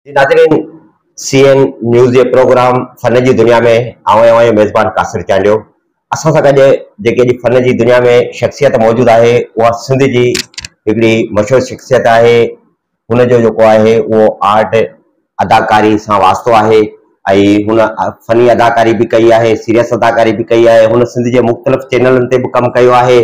ناظرين C N news جي programme فن جي دنيا ۾ آئون اوهان جو ميزبان قاصر چانڊيو اسان سان گڏ جيڪي اڄ فن جي دنيا ۾ شخصيت موجود آهي اها سنڌ جي هڪڙي مشهور شخصيت آهي هن جو جيڪو آهي اهو آرٽ اداڪاري سان واسطو آهي ۽ هن فني اداڪاري به ڪئي آهي سيريس اداڪاري به ڪئي آهي هن سنڌ جي مختلف چينلن تي به ڪم ڪيو آهي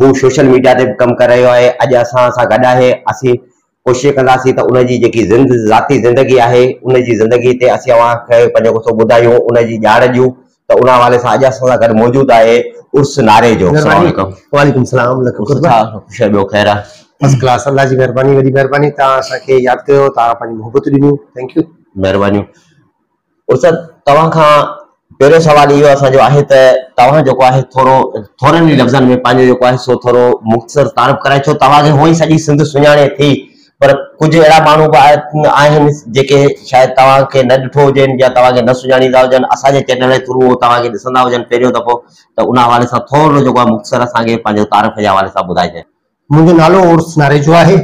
هو سوشل ميڊيا تي به ڪم ڪري رهيو آهي اڄ اسان سان گڏ آهي اسين ڪوشش ڪنداسين ته ان جي جيڪي ذاتي زندگي آهي ان جي زندگي تي اسين اوهان کي پنهنجو ڪسو ٻڌايون ان جي ڄاڻ ڏيون ته ان حوالي سان اڄ اسان سان گڏ موجود آهي عرس ناري جو السلام عليڪم وعليڪم السلام لک قربان ڇا خوش آهي ٻيو خير آهي فرسٽ ڪلاس الله جي مهرباني وڏي مهرباني توهان اسان کي ياد ڪيو توهان پنهنجي محبت ڏنيون ٿينڪ يو مهربانيون عرس صاحب توهان کان پهريون سوال اهو اسان جو آهي ته توهان جيڪو آهي ٿورو ٿورن ئي لفظن ۾ پنهنجو جيڪو آهي سو ٿورو مختصر تعارف ڪرائي ڇو توهان کي هونئن سڄي سنڌ سڃاڻي ٿي پر ڪجهه اهڙا ماڻهو به آهن جيڪي شايد توهان کي نه ڏٺو هجين يا توهان کي نه سڃاڻيندا هجن اسان جي چينل جي ٿرو توهان کي ڏسندا هجن پهريون دفعو ته ان حوالي سان ٿورو جيڪو آهي مختصر اسان کي پنهنجو تعارف جي حوالي سان ٻڌائجانء. منهنجو نالو عرس ناريجو آهي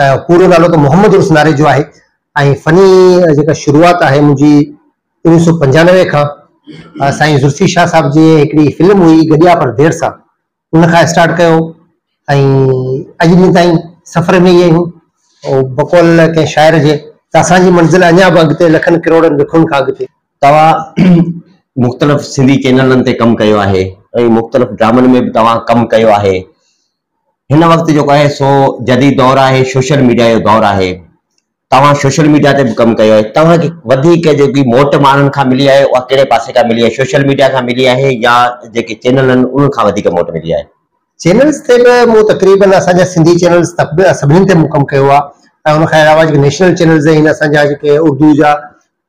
۽ پورو نالو ته محمد عرس ناريجو آهي ۽ فني جيڪا شروعات آهي منهنجي اوڻيهه سؤ پنجانوي کان سائين ذوالفي شاهه صاحب جي هڪڙي فلم هئي گڏيا پر دير سان ان کان اسٽارٽ ڪيو ۽ اڄ ڏينهن تائين سفر ۾ ئي آهيون. بقول ڪنهن شاعر جي ته اسان جي منزل اڃا به اڳتي لکن ڪروڙن وکن کان اڳتي. توهان مختلف سنڌي چينلن تي ڪم ڪيو آهي ۽ مختلف ڊرامن ۾ به توهان ڪم ڪيو آهي. هن وقت جيڪو آهي سو جديد دور آهي، سوشل ميڊيا جو دور آهي. توهان سوشل ميڊيا تي به ڪم ڪيو آهي توهان کي وڌيڪ جيڪي موٽ ماڻهن کان ملي آهي اها ڪهڙي پاسي کان ملي آهي سوشل ميڊيا کان ملي آهي يا جيڪي چينل آهن انهن کان وڌيڪ موٽ ملي آهي. چينلز تي به مون تقريبن اسان جا سنڌي چينلز سڀني تي مون ڪم ڪيو آهي ۽ ان کان علاوه جيڪي نيشنل چينلز آهن اسان جا جيڪي اردو جا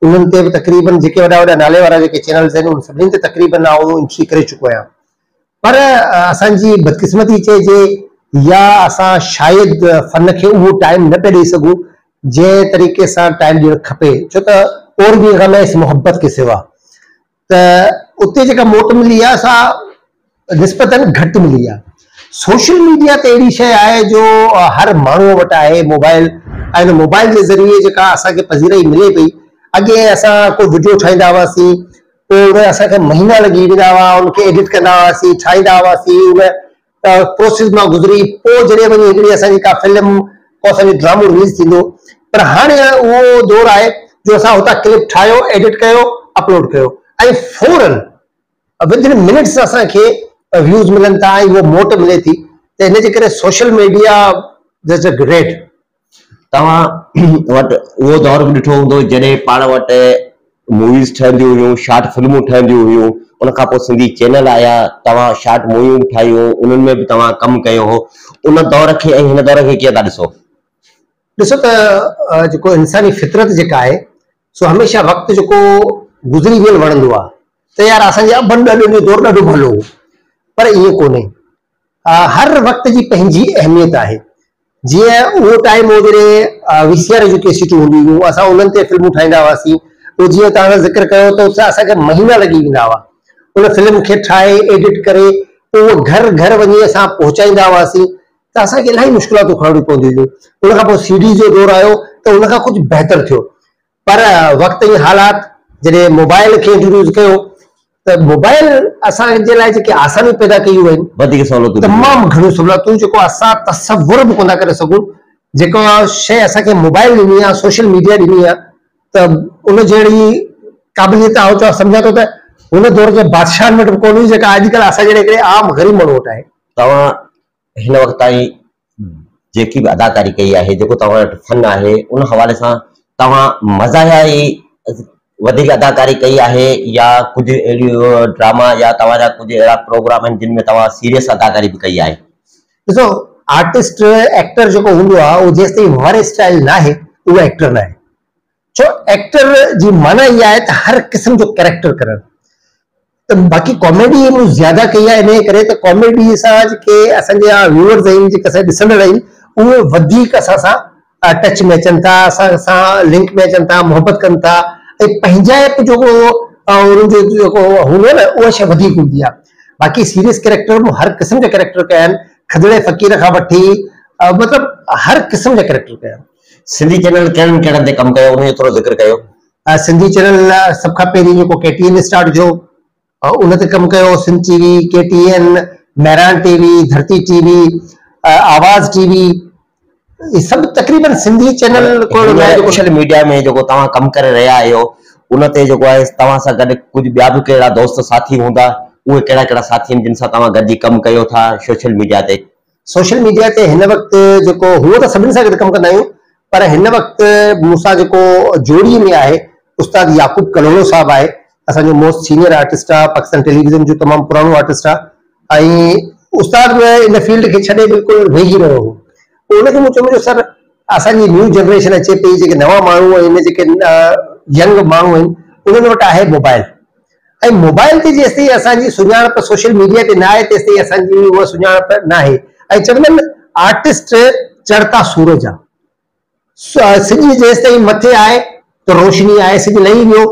انهن تي به تقريبن جيڪي وڏا وڏا نالي وارا جيڪي چينلز آهن انهن سڀني تي تقريبن آئون انٽري ڪري چڪو آهيان. پر اسان جي بدقسمتي چئجي يا اسان شايد فن کي اهو ٽائيم نه پيا ڏئي سگهون جنهن طريقي سان ٽائيم ڏيڻ کپي ڇو ته اور بي غم اس محبت ڪي سوا ته اتي جيڪا موٽ ملي آهي سا نسبتاً گهٽ ملي آهي سوشل ميڊيا ته اهڙي شيء آهي جو هر ماڻهوء وٽ آهي موبائل ۽ ان موبائل جي ذريعي جيڪا اسان کي پذيرائي ملي پئي اڳي اسان ڪو وڊيو ٺاهيندا هئاسين پوء اهي اسان کي مهينا لڳي ويندا هئا ان کي ايڊٽ ڪندا هئاسين ٺاهيندا هئاسين ان پروسيس مان گذري پوء جڏهن وڃي هڪڙي اسان جي ڪا فلم ڪو اسان جو ڊرامو رليز ٿيندو پر هاڻي اهو دور آهي جو اسان هتان ڪلپ ٺاهيو ايڊٽ ڪيو اپلوڊ ڪيو ۽ فورن ودن منٽس اسان کي ويوز ملن ٿا ۽ اهو موٽ ملي ٿي ته ان جي ڪري سوشل ميڊيا دز اي گريٽ توهان وٽ اهو دور به ڏٺو هوندو جڏهن پاڻ وٽ موويز ٺهنديون هيون شارٽ فلمون ٺهنديون هيون ان کان پوء سنڌي چينل آيا توهان شارٽ موويون به ٺاهيون انهن ۾ به توهان ڪم ڪيو هو ان دور کي ۽ هن دور کي ڪيئن ٿا ڏسو ڏسو ته جيڪو انساني فطرت جيڪا آهي سو هميشه وقت جيڪو گذري ويل وڻندو آهي ته يار اسان جي ابن ڏاڏن جو دور ڏاڍو ڀلو هو پر ائين ڪونهي هر وقت جي پنهنجي اهميت آهي. جيئن اهو ٽائيم هو جڏهن وي سي آر جون ڪيسيٽون هونديون هيون اسان انهن تي فلمون ٺاهيندا هئاسين. اهو جيئن توهان سان ذڪر ڪيو ته اتي اسان کي مهينا لڳي ويندا هئا. ان فلم کي ٺاهي ايڊٽ ڪري پوء اهو گهر گهر وڃي اسان پهچائيندا هئاسين ته اسان کي الاهي مشڪلاتون کڻڻيون پونديون هيون. ان کان پوء سي ڊي جو دور آيو ته ان کان ڪجهه بهتر ٿيو. پر وقت ۽ حالات جڏهن موبائل کي انٽروڊيوس ڪيو ته موبائل اسان جي لاء جيڪي آسانيون پيدا ڪيون آهن وڌيڪ سهولتون تمام گهڻيون سهولتون جيڪو اسان تصور به ڪونه ڪري سگهون جيڪا شيء اسان کي موبائل ڏني آهي سوشل ميڊيا ڏني آهي ته ان جهڙي قابليت آئون چوان سمجهان ٿو ته هن دور جي بادشاهن وٽ به ڪونه هئي جيڪا اڄڪلهه اسان جهڙي هڪڙي عام غريب ماڻهو وٽ آهي. توهان هن وقت تائين جيڪي به اداڪاري ڪئي آهي، جيڪو توهان وٽ فن آهي، ان حوالي سان توهان مزاحيه ئي وڌيڪ اداڪاري ڪئي آهي يا ڪجهه اهڙي ڊراما يا توهان جا ڪجهه اهڙا پروگرام آهن جن ۾ توهان سيريس اداڪاري به ڪئي آهي؟ ڏسو آرٽسٽ ايڪٽر جيڪو هوندو آهي اهو جيستائين ورهيسٽائل ناهي اهو ايڪٽر ناهي. ڇو ايڪٽر جي معنيٰ اها آهي ته هر قسم جو ڪيريڪٽر ڪرڻ ته باقي ڪاميڊي مون زياده ڪئي آهي انهيء ڪري ته ڪاميڊي سان جيڪي اسان جا ويوئرز آهن جيڪي اسان جا ڏسندڙ آهن اهي وڌيڪ اسان سان ٽچ ۾ اچن ٿا اسان سان لنڪ ۾ اچن ٿا محبت ڪن ٿا ۽ پنهنجائپ جو ڪو انهن جو جيڪو هوندو آهي نه اها شيء وڌيڪ هوندي آهي باقي سيريس ڪيريڪٽر مون هر قسم جا ڪيريڪٽر ڪيا آهن کدڙي فقير کان وٺي مطلب هر قسم جا ڪيريڪٽر ڪيا آهن. سنڌي چينل ڪهڙن ڪهڙن تي ڪم ڪيو انهي جو ٿورو ذڪر ڪيو. سنڌي چينل سڀ کان پهرين جيڪو ڪي ٽي اين اسٽارٽ جو ان تي ڪم ڪيو Sindh T V K T N Mehran T V Dharti T V آواز ٽي وي هي سڀ تقريبن سنڌي چينل سوشل ميڊيا ۾ جيڪو توهان ڪم ڪري رهيا آهيو ان تي جيڪو آهي توهان سان گڏ ڪجهه ٻيا به ڪهڙا دوست ساٿي هوندا اهي ڪهڙا ڪهڙا ساٿي آهن جن سان توهان گڏجي ڪم ڪيو ٿا سوشل ميڊيا تي سوشل ميڊيا تي هن وقت جيڪو هونء ته سڀني سان گڏ ڪم ڪندا آهيون پر هن وقت مون سان جيڪو جوڙي ۾ آهي استاد يعقوب ڪلهوڙو صاحب آهي اسان جو موسٽ سينيئر آرٽسٽ آهي پاڪستان ٽيليويزن جو تمام پراڻو آرٽسٽ آهي ۽ استاد به ان فيلڊ کي ڇڏي بلڪل ويهي رهيو هو پوء ان کي مون چيم جو سر اسان جي نيو جنريشن اچي پئي جيڪي نوان ماڻهو آهن جيڪي ينگ ماڻهو آهن انهن وٽ آهي موبائل ۽ موبائل تي جيستائين اسان جي سڃاڻپ سوشل ميڊيا تي نه آهي تيستائين اسان جي اها سڃاڻپ ناهي ۽ چوندا آهن آرٽسٽ چڙهتا سورج آ سڄ جيستائين مٿي آهي ته روشني آهي سڄ لهي ويو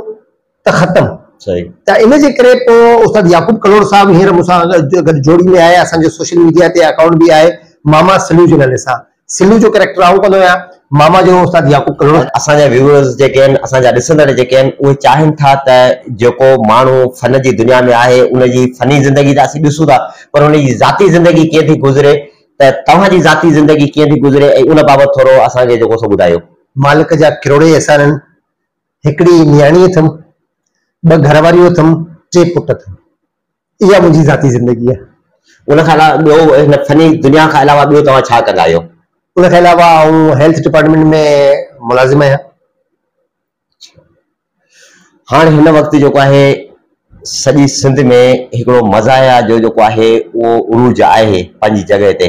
ته ختم ته ان جي ڪري پوء استاد يعقوب ڪلهوڙو صاحب هينئر مون سان گڏ جوڙي ۾ آهي اسان جو سوشل ميڊيا تي اڪائونٽ به آهي ماما سليوجن علي سان سلو جو ڪريڪٽر آئون ڪندو آهيان. ماما جو استاد يعقوب ڪلهوڙو. اسان جا ويوورز جيڪي آهن اسان جا ڏسندڙ جيڪي آهن اهي چاهين ٿا ته جيڪو ماڻهو فن جي دنيا ۾ آهي ان جي فني زندگي ته اسين ڏسون ٿا پر ان جي ذاتي زندگي ڪيئن ٿي گذري ته توهان جي ذاتي زندگي ڪيئن ٿي گذري ۽ ان بابت ٿورو اسان کي جيڪو سو ٻڌايو. مالڪ جا ڪروڙين احسان آهن. هڪڙي نياڻي اٿم، ٻه گهر واريون اٿم، ٽي پٽ اٿم. اها منهنجي ذاتي زندگي آهي. ان کان علاوه ٻيو هن فني دنيا کان علاوه ٻيو توهان ڇا ڪندا آهيو؟ ان کان علاوه آئون هيلٿ ڊپارٽمينٽ ۾ ملازم آهيان. هاڻ هن وقت جيڪو آهي سڄي سنڌ ۾ هڪڙو مزاحيه جو جيڪو آهي اهو عروج آهي پنهنجي جڳهه تي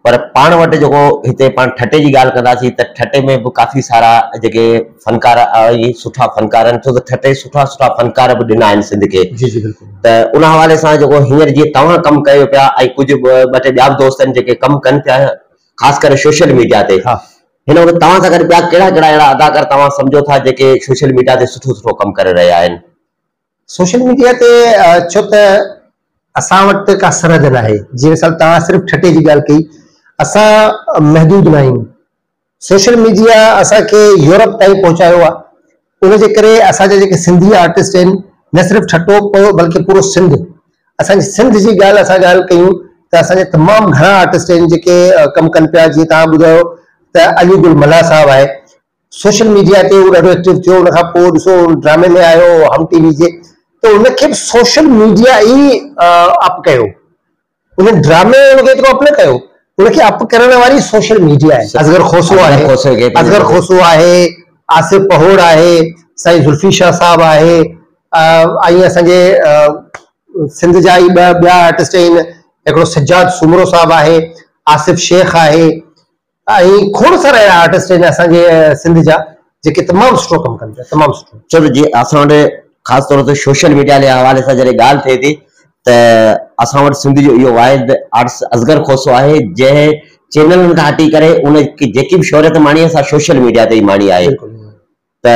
پر پاڻ وٽ جيڪو هتي پاڻ ٺٽي جي ڳالهه ڪنداسين ته ٺٽي ۾ به ڪافي سارا جيڪي فنڪار آهي سٺا فنڪار آهن ڇو ته ٺٽي سٺا سٺا فنڪار به ڏنا آهن سنڌ کي جي جي بلڪل ته ان حوالي سان جيڪو هينئر جيئن توهان ڪم ڪيو پيا ۽ ڪجهه ٻه ٽي ٻيا به دوست آهن جيڪي ڪم ڪن پيا خاص ڪري سوشل ميڊيا تي ها هن وقت توهان سان گڏ ٻيا ڪهڙا ڪهڙا اهڙا اداڪار توهان سمجهو ٿا جيڪي سوشل ميڊيا تي سٺو سٺو ڪم ڪري رهيا آهن سوشل ميڊيا تي ڇو ته اسان وٽ ته ڪا سرحد ناهي جيئن مثال توهان صرف ٺٽي جي ڳالهه ڪئي اسان محدود ناهيون سوشل ميڊيا اسان کي يورپ تائين پهچايو آهي ان جي ڪري اسان جا جيڪي سنڌي آرٽسٽ آهن نه صرف ٺٽو پيو بلڪه پورو سنڌ اسان جي سنڌ جي ڳالهه اسان ڳالهه ڪيون ته اسان جا تمام گهڻا آرٽسٽ آهن جيڪي ڪم ڪن پيا جيئن توهان ٻڌايو ته علي گل ملاح صاحب آهي سوشل ميڊيا تي هو ڏاڍو ايڪٽو ٿيو ان کان پوء ڏسو ڊرامي ۾ آيو هم ٽي وي جي ته ان کي به سوشل ميڊيا ئي اپ ڪيو ان ڊرامي ان کي ايترو اپ نه ڪيو ان کي اپ ڪرڻ واري سوشل ميڊيا آهي اصغر کوسو آهي اصغر کوسو آهي آصف پهوڙ آهي سائين ذوالفي شاهه صاحب آهي ائين اسان جي سنڌ جا ئي ٻه ٻيا آرٽسٽ آهن هڪڙو سجاد سومرو صاحب آهي آصف شيخ آهي ائين کوڙ سارا اهڙا آرٽسٽ آهن اسان جي سنڌ جا جيڪي تمام سٺو ڪم ڪن پيا تمام سٺو. ڇو ته جي اسان وٽ خاص طور تي سوشل ميڊيا جي حوالي سان جڏهن ڳالهه ٿئي ٿي ته اسان وٽ سنڌ جو اهو واحد آرٽسٽ اصغر کوسو آهي جنهن چينلن کان هٽي ڪري ان جيڪي به شهريت ماڻي آهي سا سوشل ميڊيا تي ئي ماڻي آهي ته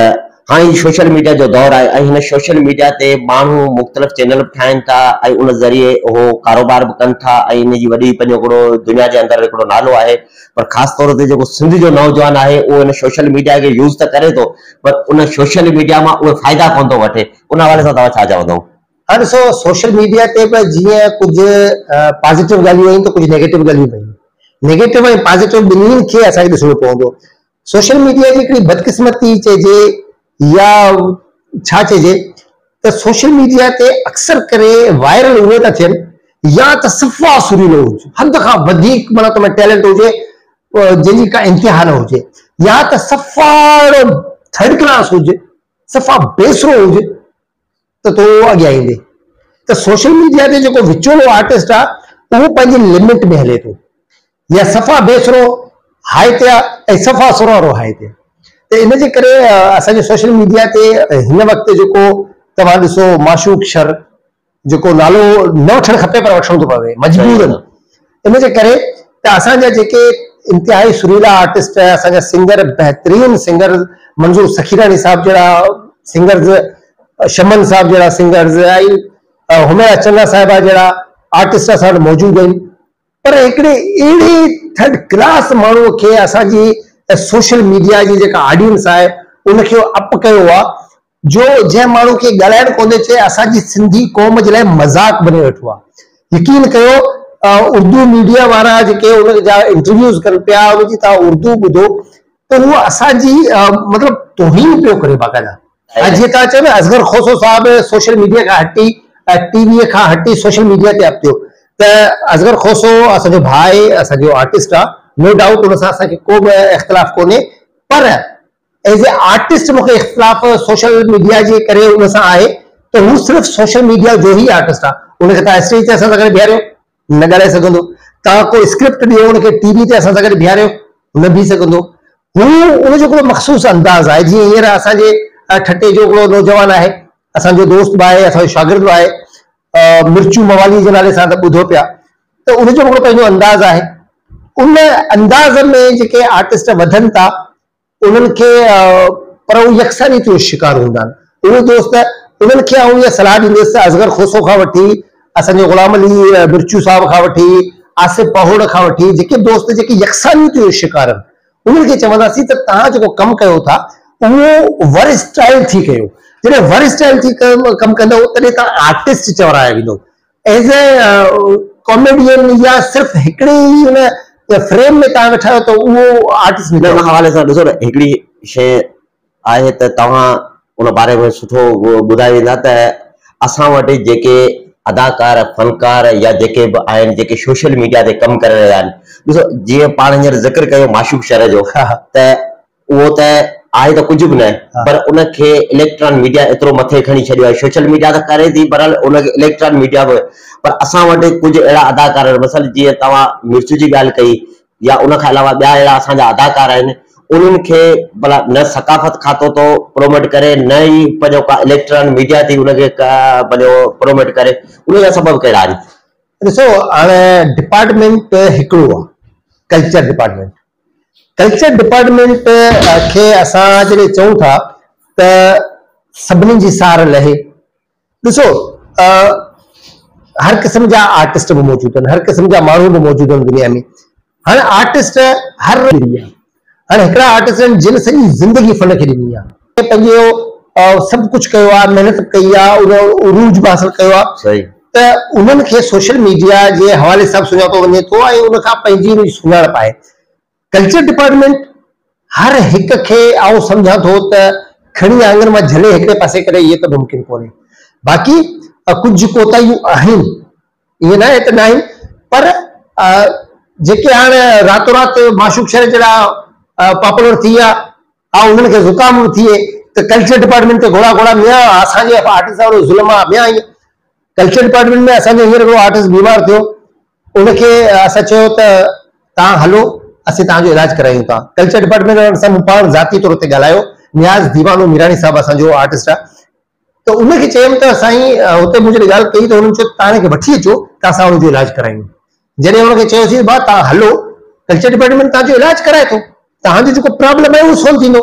هاڻي سوشل ميڊيا جو دور آهي ۽ هن سوشل ميڊيا تي ماڻهو مختلف چينل به ٺاهن ٿا ۽ ان ذريعي اهو ڪاروبار به ڪن ٿا ۽ ان جي وڏي پنهنجو هڪڙو دنيا جي اندر هڪڙو نالو آهي پر خاص طور تي جيڪو سنڌ جو نوجوان آهي اهو هن سوشل ميڊيا کي يوز ته ڪري ٿو پر ان سوشل ميڊيا مان اهي فائدا ڪونه ٿو وٺي ان حوالي سان توهان ڇا چوندو؟ ها ڏسو سوشل ميڊيا تي به جيئن ڪجهه پازيٽو ڳالهيون آهن ته ڪجهه نيگيٽو ڳالهيون به آهن نيگيٽو ۽ پازيٽو ٻنهين کي اسان کي ڏسڻو پوندو سوشل ميڊيا جي هڪڙي بدقسمتي چئجي يا ڇا چئجي ته سوشل ميڊيا تي اڪثر ڪري وائرل اهي ٿا ٿين يا ته صفا سريلو هجي حد کان وڌيڪ معنيٰ تو ۾ ٽيلنٽ هجي جنهن جي ڪا انتها نه هجي يا ته صفا ٿرڊ ڪلاس هجي صفا بيسرو هجي ته تون اڳيان ايندين ته سوشل ميڊيا تي جيڪو وچولو آرٽسٽ آ اهو پنهنجي لمٽ ۾ هلي ٿو يا صفا بي سرو هاء تي آ ۽ صفا سرو وارو هاء تي ته ان جي ڪري اسان جو سوشل ميڊيا تي هن وقت جيڪو توهان ڏسو معشوق شر جيڪو نالو نه وٺڻ کپي پر وٺڻو ٿو پوي مجبورن ان جي ڪري ته اسان جا جيڪي انتهائي سريلا آرٽسٽ ۽ اسان جا سنگر بهترين سنگر منظور سخيراڻي صاحب جهڙا سنگرز شمن صاحب جهڙا سنگرز ۽ حميرا چنا صاحبه جهڙا آرٽسٽ اسان وٽ موجود آهن پر هڪڙي اهڙي ٿرڊ ڪلاس ماڻهو کي اسان جي سوشل ميڊيا جي جيڪا آڊينس آهي ان کي اپ ڪيو آهي جو جنهن ماڻهو کي ڳالهائڻ ڪونهي چي اسان جي سنڌي قوم جي لاء مذاق بني ويٺو آ يقين ڪيو اردو ميڊيا وارا جيڪي ان جا انٽرويوز ڪن پيا ان جي تها اردو ٻڌو ته هو اسان جي مطلب توهين پيو ڪري باقاعده ۽ جيئن تها چيو نه اصغر کوسو صاحب سوشل ميڊيا کان هٽي ٽي وي کان هٽي سوشل ميڊيا تي اپتيو ته اصغر کوسو اسان جو ڀاء اسان جو آرٽسٽ آ نو ڊائوٽ ان سان اسان کي ڪو به اختلاف ڪونهي پر ايز اي آرٽسٽ مون کي اختلاف سوشل ميڊيا جي ڪري ان سان آهي ته هو صرف سوشل ميڊيا جو ئي آرٽسٽ آ ان کي تان اسٽيج تي اسان سان گڏ بيهاريو نه ڳالهائي سگهندو تان ڪو اسڪرپٽ ڏيو ان کي ٽي وي تي اسان سان گڏ بيهاريو نه بيهي سگهندو هو ان جو هڪڙو مخصوص انداز آهي جيئن هينئر اسان جي ٺٽي جو هڪڙو نوجوان آهي اسان جو دوست به آهي اسان جو شاگرد به آهي مرچو موالي جي نالي سان ته ٻڌو پيا ته ان جو هڪڙو پنهنجو انداز آهي ان انداز ۾ جيڪي آرٽسٽ وڌن ٿا انهن کي پر هو يڪسانيت جو شڪار هوندا آهن. اهي دوست انهن کي آئون اها صلاح ڏيندس ته اصغر کوسو کان وٺي اسان جي غلام علي مرچو صاحب کان وٺي آصف پهوڙ کان وٺي جيڪي دوست جيڪي يڪسانيت جو شڪار آهن انهن کي چونداسين ته توهان جيڪو ڪم ڪيو ٿا اهو ورسٽائل ٿي ڪيو جڏهن ورسٽائل ٿي ڪم ڪندو تڏهن توهان آرٽسٽ چورايا ويندو ايز اي ڪاميڊين يا صرف هڪڙي ئي ان فريم ۾ توهان ويٺا آهيو ته اهو آرٽسٽ نه ان حوالي سان ڏسو نه هڪڙي شي آهي ته توهان ان باري ۾ سٺو ٻڌائي ويندا ته اسان وٽ جيڪي اداڪار فنڪار يا جيڪي به آهن جيڪي سوشل ميڊيا تي ڪم ڪري رهيا آهن ڏسو جيئن پاڻ هينئر ذڪر ڪيو معشوق شر جو ته اهو ته آهي ته ڪجهه به نه پر ان کي اليڪٽران ميڊيا ايترو مٿي کڻي ڇڏيو آهي سوشل ميڊيا ته ڪري ٿي پر ان کي اليڪٽران ميڊيا به پر اسان وٽ ڪجهه اهڙا اداڪار آهن مثلا جيئن توهان مرچ جي ڳالهه ڪئي يا ان کان علاوه ٻيا اهڙا اسان جا اداڪار آهن انهن کي بلا نه ثقافت کاتو ٿو پروموٽ ڪري نه ئي پنهنجو ڪا اليڪٽران ميڊيا ٿي ان کي پنهنجو پروموٽ ڪري ان جا سبب ڪهڙا آهن ڏسو هاڻي ڊپارٽمنٽ هڪڙو آهي ڪلچر ڊپارٽمنٽ ڪلچر ڊپارٽمينٽ کي اسان جڏهن چئون ٿا ته سڀني جي سار لهي، ڏسو هر قسم جا آرٽسٽ به موجود آهن، هر قسم جا ماڻهو به موجود آهن دنيا ۾، هاڻ آرٽسٽ هر هاڻ هڪڙا آرٽسٽ آهن جن سڄي زندگي فن کي ڏني آهي. ڪنهن پنهنجو سڀ ڪجهه ڪيو آهي محنت به ڪئي آهي ان عروج به حاصل ڪيو آهي صحيح ته انهن کي سوشل ميڊيا جي حوالي سان به سڃاتو وڃي ٿو ۽ ان کان پنهنجي ان جي سڃاڻپ آهي ڪلچر ڊپارٽمينٽ هر هڪ کي آئون سمجهان ٿو ته کڻي آڱر مان جهلي هڪڙي پاسي ڪري اهي ته ممڪن ڪونهي باقي ڪجهه ڪوتاهيون آهن ائين ناهي ته ناهن پر جيڪي هاڻ راتو رات معشوق شهر جهڙا پاپولر ٿي ويا ها انهن کي زڪام به ٿئي ته ڪلچر ڊپارٽمينٽ تي گهوڙا گهوڙا ميان اسان جي آرٽسٽ سان اهڙو ظلم آ ميان ائين ڪلچر ڊپارٽمينٽ ۾ اسان جو هينئر هڪڙو آرٽسٽ بيمار ٿيو ان کي اسان چيو ته توهان هلو اسين توهان جو علاج ڪرايون ٿا ڪلچر ڊپارٽمينٽ وارن سان مون پاڻ ذاتي طور تي ڳالهايو نياز ديوانو ميراڻي صاحب اسان جو آرٽسٽ آ ته ان کي چيم ته سائين هتي مون جڏهن ڳالهه ڪئي ته هنن چيو توهان هن کي وٺي اچو ته اسان هن جو علاج ڪرايون جڏهن هن کي چيوسين ڀاء توهان هلو ڪلچر ڊپارٽمينٽ توهان جو علاج ڪرائي ٿو توهان جو جيڪو پرابلم آهي اهو سولو ٿيندو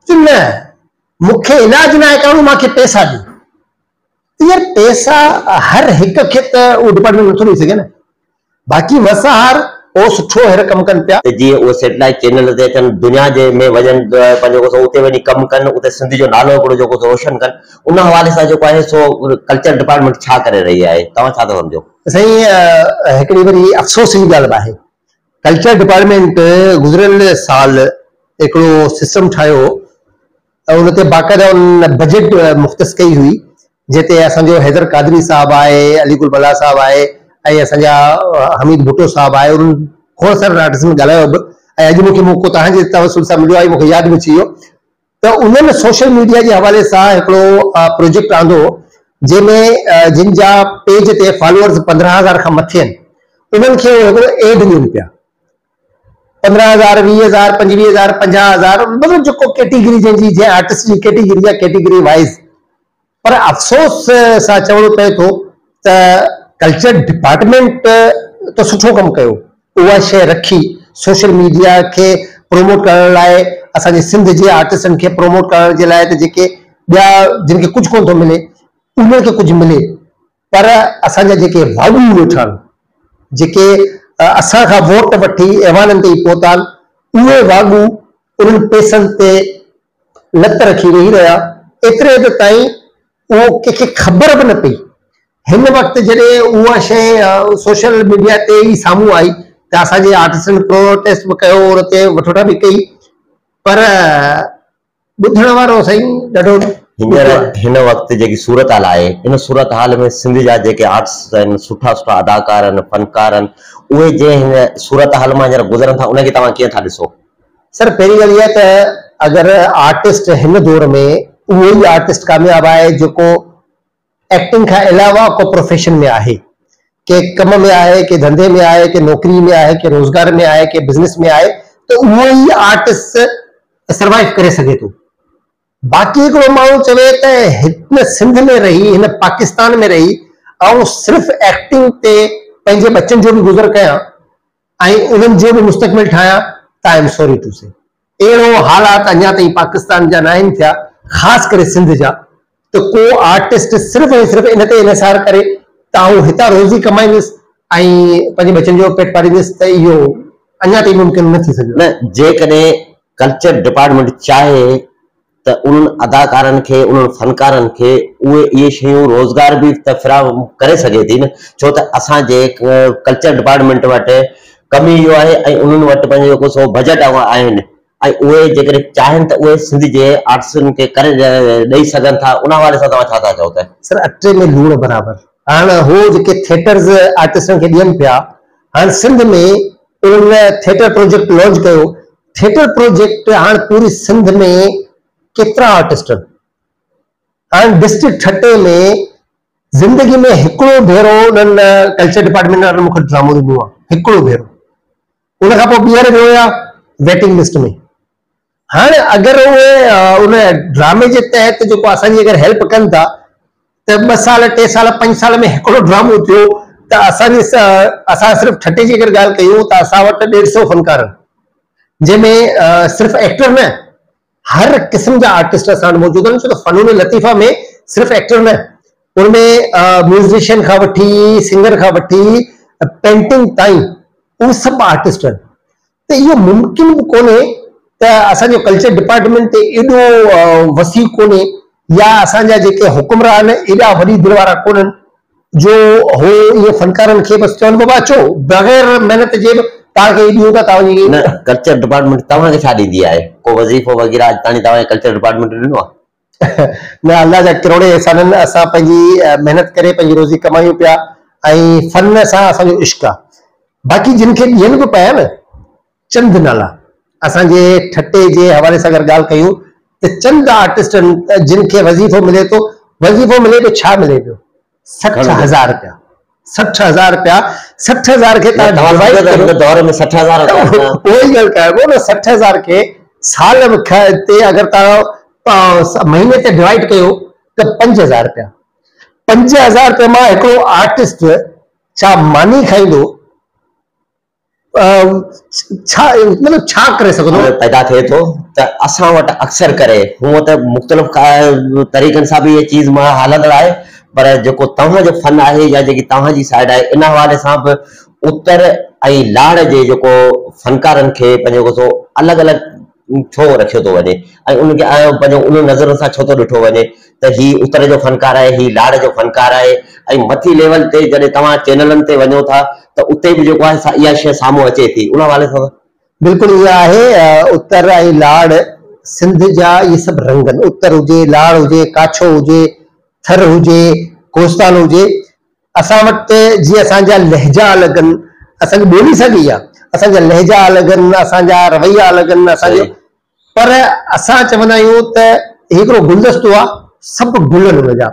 چيو نه مون کي علاج ناهي ڪرڻو مان کي پيسا ڏيو يار پيسا هر هڪ کي ته اهو ڊپارٽمينٽ نٿو ڏيئي سگهي نه باقي مسهار او سٺو هير ڪم ڪن پيا. ته جيئن اهي سيٽلائيٽ چينل تي اچن دنيا جي ۾ وڃن پنهنجو ڪو اتي وڃي ڪم ڪن اتي سنڌ جو نالو هڪڙو جيڪو روشن ڪن ان حوالي سان جيڪو آهي سو ڪلچر ڊپارٽمينٽ ڇا ڪري رهي آهي توهان ڇا ٿا سمجهو. سائين هڪڙي وري افسوس جي ڳالهه به آهي ڪلچر ڊپارٽمينٽ گذريل سال هڪڙو سسٽم ٺاهيو هو ۽ ان تي باقاعده ان بجيٽ مختص ڪئي هئي جنهن تي اسان جو حيدر قادري صاحب آهي علي گل بلا صاحب آهي ۽ اسان جا حميد ڀٽو صاحب آهي انهن کوڙ سارن آرٽسٽن ڳالهايو به ۽ اڄ مون کي موقعو توهان جي توسل سان مليو آهي مون کي ياد به اچي ويو ته انهن سوشل ميڊيا جي حوالي سان هڪڙو پروجيڪٽ آندو جنهن ۾ جن جا پيج تي فالوورز پندرهن هزار کان مٿي آهن انهن کي هو هڪڙو ايڊ ڏين پيا پندرهن هزار ويهه هزار پنجويهه هزار پنجاهه هزار مطلب جيڪو ڪيٽيگري جنهن جي جنهن آرٽسٽ جي ڪيٽيگري آهي ڪيٽيگري وائز پر افسوس سان چوڻو پئي ٿو ته ڪلچر ڊپارٽمينٽ ته سٺو ڪم ڪيو، اها شيء رکي سوشل ميڊيا کي پروموٽ ڪرڻ لاء اسان جي سنڌ جي آرٽسٽن کي پروموٽ ڪرڻ جي لاء ته جيڪي ٻيا جن کي ڪجهه ڪونه ٿو ملي انهن کي ڪجهه ملي، پر اسان جا جيڪي واڳون ويٺا آهن، جيڪي اسان کان ووٽ وٺي ايوانن تي پهتا آهن، اهي واڳو انهن پئسن تي لت رکي ويهي رهيا، ايتري حد تائين اهو ڪنهن کي خبر به نه پئي. هن وقت جڏهن اها شيء سوشل ميڊيا تي ئي سامهون آئي ته اسان جي آرٽسٽن پروٽيسٽ به ڪيو، ان تي وٺوٽا به ڪئي، پر ٻڌڻ وارو سائين ڏاڍو هينئر هن وقت جيڪي صورتحال آهي ان صورتحال ۾ سنڌ جا جيڪي آرٽسٽ آهن سٺا سٺا اداڪار آهن فنڪار آهن اهي جنهن هن صورتحال مان هينئر گذرن ٿا ان کي توهان ڪيئن ٿا ڏسو؟ سر پهرين ڳالهه اها ته اگر آرٽسٽ هن دور ۾ اهو ئي آرٽسٽ ڪامياب آهي جيڪو ايڪٽنگ کان علاوه ڪو پروفيشن ۾ آهي، ڪنهن ڪم ۾ آهي، ڪنهن ڌنڌي ۾ آهي، ڪنهن نوڪري ۾ آهي، ڪنهن روزگار ۾ آهي، ڪنهن بزنس ۾ آهي ته اهو ئي آرٽسٽ سروائيو ڪري سگهي ٿو. باقي هڪڙو ماڻهو چوي ته هن سنڌ ۾ رهي، هن پاڪستان ۾ رهي آئون صرف ايڪٽنگ تي پنهنجي ٻچن جو به گذر ڪيان ۽ انهن جو به مستقبل ٺاهيان ته I am sorry to see اهڙو حالات اڃا تائين پاڪستان جا ناهن ٿيا خاص ڪري سنڌ جا ته ڪو آرٽسٽ صرف ۽ صرف ان تي انحصار ڪري ته آئون هتان روزي ڪمائيندس ۽ پنهنجي ٻچن جو پيٽ پاليندس ته اهو اڃا تائين ممڪن نه ٿي سگهيو آهي. نه جيڪڏهن ڪلچر ڊپارٽمينٽ چاهي ته انهن اداڪارن کي انهن فنڪارن کي اهي اهي شيون روزگار به ته فراهم ڪري سگهي ٿي نه ڇو ته اسان جي ڪلچر ڊپارٽمينٽ وٽ ڪم ئي اهو آهي ۽ انهن وٽ پنهنجو جيڪو سو بجيٽ اهو آهن ۽ اهي جيڪڏهن چاهين ته اهي سنڌ جي آرٽسن کي ڪري ڏئي سگهن ٿا ان حوالي سان توهان ڇا ٿا چئو ته سر اٽي ۾ لوڻ برابر هاڻ هو جيڪي ٿيٽرز آرٽسن کي ڏين پيا هاڻ سنڌ ۾ انهن ٿيٽر پروجيڪٽ لانچ ڪيو ٿيٽر پروجيڪٽ هاڻ پوري سنڌ ۾ ڪيترا آرٽسٽن هاڻ ڊسٽرڪٽ ٺٽي ۾ زندگي ۾ هڪڙو ڀيرو انهن ڪلچر ڊپارٽمينٽ وارن مون کي ڊرامو ڏنو آهي هڪڙو ڀيرو ان کان پوء ٻيهر ويو آهيان ويٽنگ لسٽ ۾ هاڻ اگر اهي ان ڊرامي جي تحت جيڪو اسان جي اگر هيلپ ڪن ٿا ته ٻه سال، ٽي سال، پنج سال ۾ هڪڙو ڊرامو ٿيو ته اسان جي اسان صرف ٺٽي جي اگر ڳالهه ڪيون ته اسان وٽ ڏيڍ سئو فنڪار جنهن ۾ صرف ايڪٽر نه هر قسم جا آرٽسٽ اسان وٽ موجود آهن ڇو ته فنون لطيفه ۾ صرف ايڪٽر نه ان ۾ ميوزيشن کان وٺي سنگر کان وٺي پينٽنگ تائين اهي سڀ آرٽسٽ آهن ته اهو ممڪن به ڪونهي ته اسان جو ڪلچر ڊپارٽمينٽ ته ايڏو وسيع ڪونهي يا اسان جا جيڪي حڪمران ايڏا وڏي دل وارا ڪونهن جو هو ائين فنڪارن کي بس چون بابا اچو بغير محنت جي به توهان کي هي ڏيون ٿا توهان جي نه ڪلچر ڊپارٽمينٽ توهان کي ڇا ڏيندي آهي ڪو وظيفو وغيره اڄ تاڻي توهان کي ڪلچر ڊپارٽمينٽ ڏنو آهي؟ نه الله جا ڪروڙين احسان آهن اسان پنهنجي محنت ڪري پنهنجي روزي ڪمايون پيا ۽ فن سان اسان جو عشق آهي باقي جن کي ڏين به پيا نه چند نالا اسان جي ٺٽي جي حوالي سان اگر ڳالهه ڪيون ته چند آرٽسٽن جن کي وظيفو ملي ٿو وظيفو ملي ٿو ڇا ملي پيو سٺ هزار رپيا سٺ هزار رپيا سٺ هزار کي دور ۾ سٺ هزار سٺ هزار کي سال تي اگر تون مهيني تي ڊوائڊ ڪيو ته پنج هزار رپيا پنج هزار رپيا مان هڪڙو آرٽسٽ ڇا ماني کائيندو ڇا مطلب ڇا ڪري سگهو ٿو. پيدا ٿئي ٿو ته اسان وٽ اڪثر ڪري هونء ته مختلف طريقن سان به هيء چيز مان هلندڙ آهي پر جيڪو توهان جو فن آهي يا جيڪي توهان جي سائيڊ آهي ان حوالي سان به اتر ۽ لاڙ جي جيڪو فنڪارن کي پنهنجو جيڪو سو الڳ الڳ ڇو رکيو ٿو وڃي ۽ ان کي آيا پنهنجو ان نظر سان ڇو ٿو ڏٺو وڃي ته هي اتر جو فنڪار آهي هي لاڙ جو فنڪار آهي ۽ مٿي ليول تي جڏهن توهان چينلن تي وڃو ٿا ته اتي به جيڪو آهي سا اها شيء سامهون اچي ٿي ان حوالي سان بلڪل ايئن آهي اتر ۽ لاڙ سنڌ جا اهي سڀ رنگ آهن اتر هجي لاڙ هجي ڪاڇو هجي ٿر هجي ڪوستان هجي اسان وٽ ته جي اسان جا لهجا الڳ ان اسان جي ٻولي ساڳي آ اسان جا لهجا الڳ ان اسان جا رويا الڳ ان اسان جو صحيح پر اسان چوندا آهيون ته هي هڪڙو گلدستو آ سڀ گل ان ان جا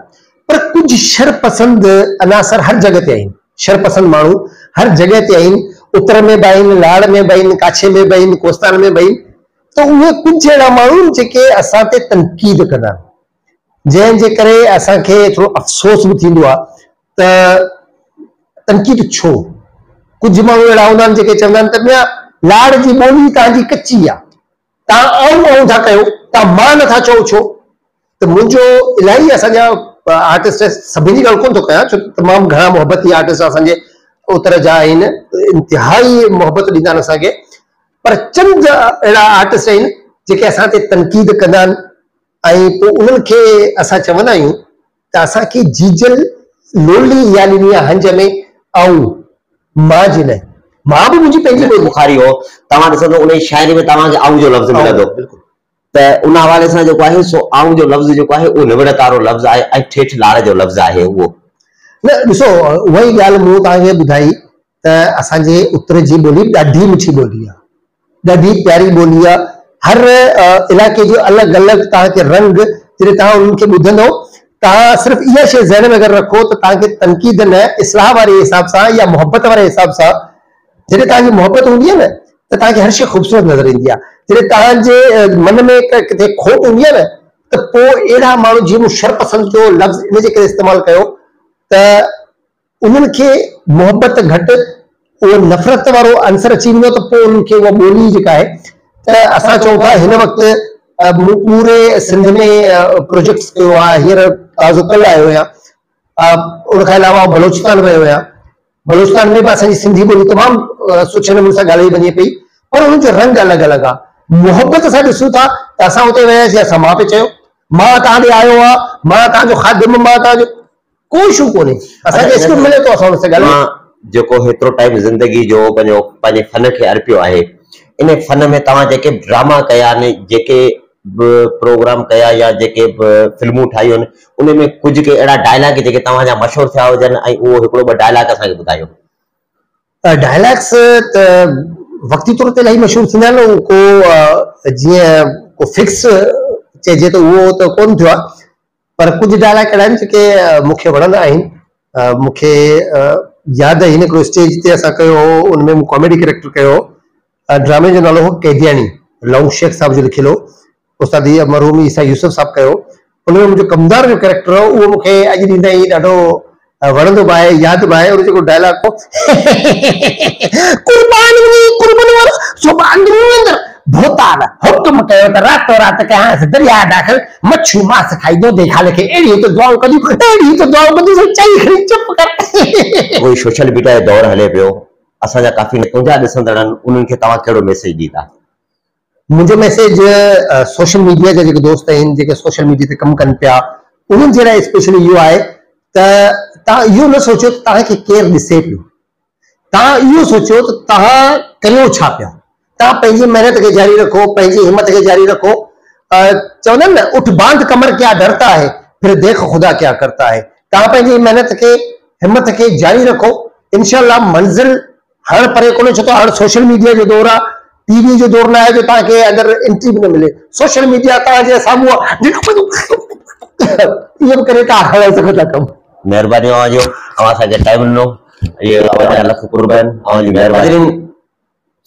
پر ڪجهه شر پسند عناصر هر جڳهه تي آهن شر پسند ماڻهو هر جڳهه تي آهن اتر ۾ به آهن لاڙ ۾ به آهن ڪاڇي ۾ به آهن ڪوستان ۾ به آهن ته اهي ڪجهه اهڙا ماڻهو آهن جيڪي اسان تي تنقيد ڪندا آهن جنهن جي ڪري اسان کي ٿورو افسوس به ٿيندو آهي ته تنقيد ڇو؟ ڪجهه ماڻهو اهڙا هوندا آهن جيڪي چوندا آهن ته ميان لاڙ جي ٻولي توهان جي ڪچي آهي، توهان آئون آئون ٿا ڪيو، توهان مان نٿا چئو ڇو؟ ته منهنجو الاهي اسان جا آرٽسٽ آهن، سڀني جي ڳالهه ڪونه ٿو ڪيان ڇو ته تمام گهڻا محبتي آرٽسٽ اسان جي اتر جا آهن، انتهائي محبت ڏيندا آهن اسان کي، پر چند اهڙا آرٽسٽ آهن جيڪي اسان تي تنقيد ڪندا آهن، ۽ پوء انهن کي اسان چوندا آهيون ته اسان کي جيجل لولي يا ڏني آ هنج ۾ آئون مان جي نه مان به منهنجي پنهنجي ٻولي. بخاري هو توهان ڏسندو انهي شاعري ۾ توهان کي آئون جو لفظ ملندو ته ان حوالي سان جيڪو آهي سو آئون جو لفظ جيڪو آهي اهو نوڙ ڪارو لفظ آهي ۽ ٺيٺ لاڙ جو لفظ آهي اهو. نه ڏسو اها ئي ڳالهه مون توهان کي ٻڌائي ته اسان جي اتر جي ٻولي ڏاڍي مٺي ٻولي آ ڏاڍي پياري ٻولي آ هر علائقي جو الڳ الڳ توهان کي رنگ جڏهن توهان انهن کي ٻڌندو توهان صرف اها شي ذهن ۾ اگر رکو ته توهان کي تنقيد نه اصلاح واري حساب سان يا محبت واري حساب سان جڏهن توهان جي محبت هوندي آ نه ته توهان کي هر شي خوبصورت نظر ايندي آ جڏهن توهان جي من ۾ ڪٿي کوٽ هوندي آ نه ته پوء اهڙا ماڻهو جي مون شرپسند جو لفظ ان جي ڪري استعمال ڪيو ته انهن کي محبت گهٽ اهو نفرت وارو عنصر اچي ويندو ته پوء انهن کي اها ٻولي جيڪا آهي ته اسان چئون ٿا هن وقت مون پوري سنڌ ۾ پروجيڪٽس ڪيو آهي هينئر تازو ڪل آيو آهيان ان کان علاوه آئون بلوچستان ويو آهيان بلوچستان ۾ به اسان جي سنڌي ٻولي تمام سٺي نموني سان ڳالهائي وڃي پئي پر انهن جو رنگ الڳ الڳ آهي محبت سان ڏسون ٿا ته اسان اتي وياسي اسان مان پئي چيو مان تان ڏي آيو آهيان مان تان جو خادم مان تان جو ڪو اشو ڪونهي اسان کي اسڪرپٽ ملي ٿو اسان ان سان ڳالهايون. توهان جيڪو هيترو ٽائيم زندگي جو پنهنجو پنهنجي فن کي ارپيو آهي ان فن ۾ توهان جيڪي به ڊراما ڪيا آهن جيڪي به پروگرام ڪيا يا جيڪي به فلمون ٺاهيون آهن ان ۾ ڪجهه ڪي اهڙا ڊائلاگ جيڪي توهان جا مشهور ٿيا هجن ۽ اهو هڪڙو ٻه ڊائلاگ اسان کي ٻڌايو. ڊائلاگس ته وقتي طور تي الاهي مشهور ٿيندا آهن ڪو جيئن ڪو فڪس چئجي ته اهو ته ڪونه ٿيو آهي پر ڪجهه ڊائلاگ اهڙا آهن جيڪي مون کي وڻندا آهن مون کي ياد آهن هڪڙو اسٽيج تي اسان ڪيو هو ان ۾ مون ڪاميڊي ڪيريڪٽر ڪيو هو ڊرامي جو نالو هو قيدياڻي لونگ شيخ صاحب جو لکيل هو استاد مرحوم عيسيٰ يوسف صاحب ڪيو هو ان ۾ منهنجو ڪمدار جو ڪيريڪٽر هو اهو مون کي اڄ ڏينهن تائين ڏاڍو وڻندو به آهي ياد به آهي ان جيڪو ڊائلاگ هو قربان وڃي قربن وار زبان ڏنو اندر ڀوتال حڪم ڪيو ته راتو رات ڪيانس درياء داخل مڇيون ماس کائي دودي خال کي اهڙي هت دعائون ڪنديون اهڙي هت دعائون ڪنديون سو چئي کڻي چپ ڪر اهو سوشل ميڊيا جو دور هلي پيو اسان جا ڪافي نتونجا ڏسندڙن انهن کي توهان ڪهڙو ميسيج ڏيندا. منهنجو ميسيج سوشل ميڊيا جا جيڪي دوست آهن جيڪي سوشل ميڊيا تي ڪم ڪن پيا انهن جي لاء اسپيشلي اهو آهي ته توهان اهو نه سوچيو ته توهان کي ڪير ڏسي پيو توهان اهو سوچيو ته توهان ڪيو ڇا پيا توهان پنهنجي محنت کي جاري رکو پنهنجي همت کي جاري رکو چوندا آهن نه اٺ باند ڪمر ڪيا ڊرتا هي پھر ديک خدا ڪيا ڪرتا هي توهان پنهنجي محنت کي همت کي جاري رکو انشاء الله منزل هاڻ پري ڪونهي ڇو ته هاڻ سوشل ميڊيا جو دور آهي ٽي وي جو دور نه آهي جو توهان کي اندر انٽري به نه ملي سوشل ميڊيا توهان جي سامهون ايئن به ڪري ڪار هلائي سگهو ٿا ڪم مهرباني اوهان جو اوهان اسان کي ٽائيم ڏنو اهي اوهان جا لک قربان اوهان جي مهرباني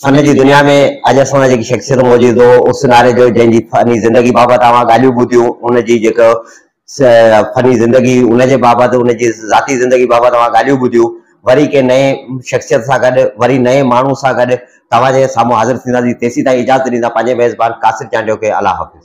فن جي دنيا ۾ اڄ اسان سان جيڪي شخصيت موجود هو اس ناري جو جنهن جي فني زندگي بابت اوهان ڳالهيون ٻڌيون ان جي جيڪو فني زندگي ان جي بابت ان جي ذاتي زندگي بابت اوهان ڳالهيون ٻڌيون وري ڪنهن نئين شخصيت سان گڏ وري نئين ماڻهو سان گڏ توهان جي سامهون حاضر ٿينداسين تيسين تائين اجازت ڏيندا پنهنجي ميزبان قاصد چانڊيو کي الله حافظ.